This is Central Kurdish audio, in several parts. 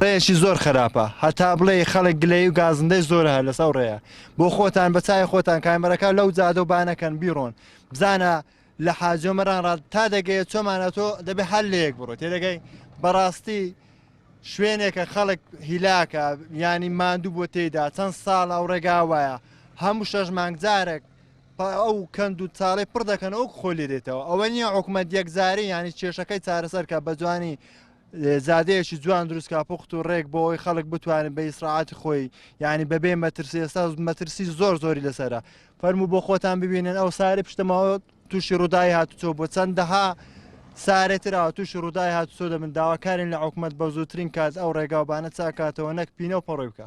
ڕێیەکی زۆر خراپە هەتا بڵێی خەڵک گلەیی و گازندەی زۆرە هەر لەسەو ڕێە بۆ خۆتان بە چاوی خۆتان کامێراکە لەو جادە و بانەکەن بیڕۆن بزانە لە حاجۆ مەران ڕاد تا دەگەیە چۆمان ئەتۆ دەبێ هەر لە یەک بڕۆ تێدەگەی بەڕاستی شوێنێکە خەڵک هیلاکە ینی ماندوو بۆ تێدا چەند ساڵ ئەو ڕێگا وایە هەموو شەش مانگجارێک ئەو کەند و چاڵی پڕ دەکەن ئەو خۆلی دێتەوە ئەوە نییە حکومت یەکجاری ینی کێشەکەی چارەسەرکە بە جوانی جادەیەکی جوان دروست کا پوخت و ڕێک بۆ ئەوی خەڵک بتوانێت بە ئیسراعاتی خۆی یعنی بەبێ مەترسی ئێستا مەترسی زۆر زۆری لەسرە فەرمو بۆ خۆتان ببینن ئەو ساری پشتمەوە تووشی ڕوودای هاتوچۆ بۆ چەندەها سارێتراوە تووشی ڕوودای هاتوچۆ دەبن داواکارین لە حکومت بە زووترین کات ئەو ڕێگاوبانە چاکاتەوە نەک پینە و پەڕۆی بکە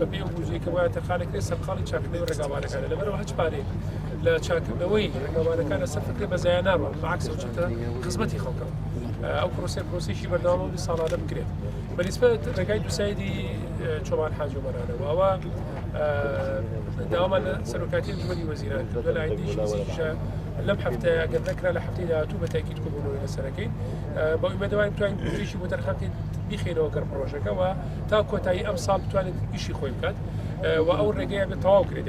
بەپێی ئەو بودجەی کە وایە تەرخانەکرێت سەرقاڵی چاککردنەوەی ڕێگاوبانەکانە، لەبەرئەوە هەچ پارەیەک لە چاککردنەوەی ڕێگاوبانەکانە سەرف بکرێت بە زایە ناڕوات بەعەکسەوە چوونەتە خزمەتی خەڵکەوە ئەو پرۆسەیە پرۆسەیەکی بەردەوامە و ساڵانە بکرێت بەنیسبەت ڕێگای دووسایدی چۆمان حاجی ئۆمەرانەوە ئەوە داوامان لە سەرۆکاتی ئەنجومەنی وەزیران کردووە لە ئایندەیەکی نزیکیشە لەم هەفتەیە گەر نەکرا لە هەفتەی داهاتوو بە تاکید کۆبوونەوەی لەسەرەکەی بە ئیمەدەوارین توانین بودجەیەکی بۆ تەرخان بکەین بیخەینەوە گەڕ پڕۆژەکەەوە تا کۆتایی ئەم ساڵ بتوانێت ئیشی خۆی بکات و ئەو ڕێگەیە بە تەواو کرێت.